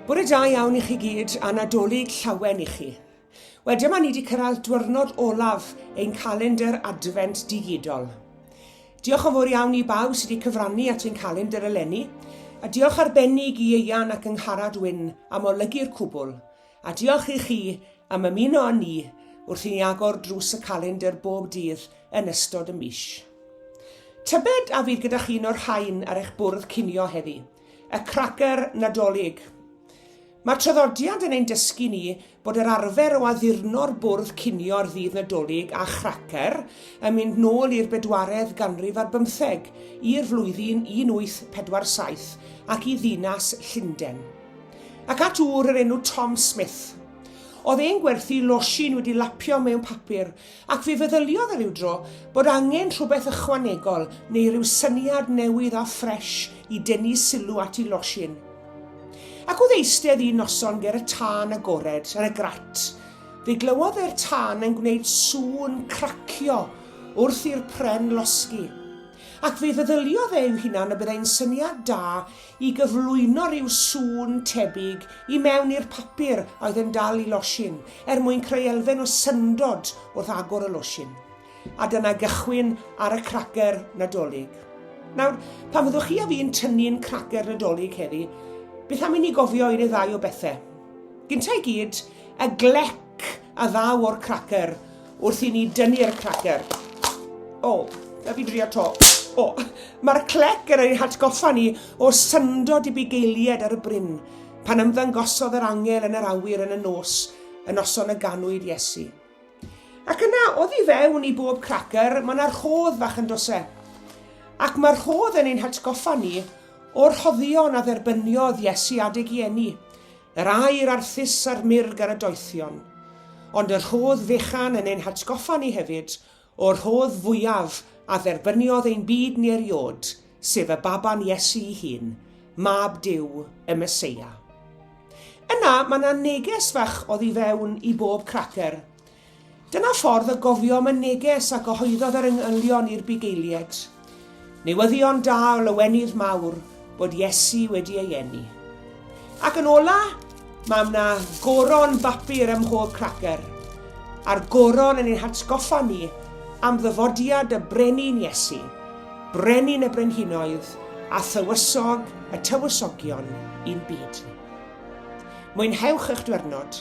Bore da iawn i chi gyd a Nadolig llawen i chi. Wel, dyma ni wedi cyrraedd diwrnod olaf ein calendr adfent digidol. Diolch yn fawr iawn i bawb sydd wedi cyfrannu at ein calendr eleni, a diolch arbennig i Eian ac yng Ngharad Wyn am olygu'r cwbl, A diolch i chi am ymuno â ni wrth i ni agor drws y calendr bob dydd yn ystod y mis. Tybed a fydd gyda chi un o'r rhain ar eich bwrdd cinio heddi? Y cracer Nadolig. Mae'r traddodiad yn ein dysgu ni bod yr arfer o addurno'r bwrdd cinio ar ddydd Nadolig a chracer yn mynd nôl i'r bedwaredd ganrif ar bymtheg, i'r flwyddyn 1847 ac i ddinas Llundain. Ac at ŵr yr enw Tom Smith. Oedd e'n gwerthu losin wedi lapio mewn papur, ac fe feddyliodd e rywdro bod angen rhywbeth ychwanegol neu ryw syniad newydd a ffresh i dynnu sylw at i losin. Ac oedd eistedd un noson ger y tân agored ar y grat, fe glywodd e'r tân yn gwneud sŵn cracio wrth i'r pren losgi, ac fe feddyliodd e i'w hunan y byddai'n syniad da i gyflwyno rhyw sŵn tebyg i mewn i'r papur a oedd yn dal i losin, er mwyn creu elfen o syndod wrth agor y losin. A dyna gychwyn ar y cracer Nadolig. Nawr, pan fyddwch chi a fi'n tynnu'n cracer Nadolig heddi, beth am i ni gofio un neu ddau o bethau? Gynta i gyd, y glec a ddaw o'r cracer Wrth i ni dynnu'r cracer. O, na fi drio to. O, mae'r clec yn ei hatgoffa ni o syndod i bugeilied ar y bryn, pan ymddangosodd yr angel yn yr awyr yn y nos, yn noson y ganwyd Iesu. Ac yna, oddi fewn i bob cracer, mae yna rhodd fach yn dose. Ac mae'r rhodd yn ein hatgoffa ni o'r rhoddion a dderbyniodd Iesu adeg i eni, Yr aer arthus a'r murg ar y doethion. Ond y rhodd fechan yn ein hatgoffa ni hefyd o'r rhodd fwyaf a dderbyniodd ein byd ni eriod, sef y baban Iesu'i hun, Mab Duw, y Meseia. Yna, mae 'na neges fach oddi fewn i bob cracer, Dyna ffordd y gofiom y neges a gyhoeddodd yr engylion i'r bugeiliaid. Newyddion da o lawenydd mawr bod Iesu wedi ei eni. Ac yn ola, mae yna goron bapur ym mhob cracer, a'r goron yn ein hatgoffa ni am ddyfodiad y Brenin Iesu, Brenin y Brenhinoedd a Thywysog y Tywysogion un byd. Mwynhewch eich diwrnod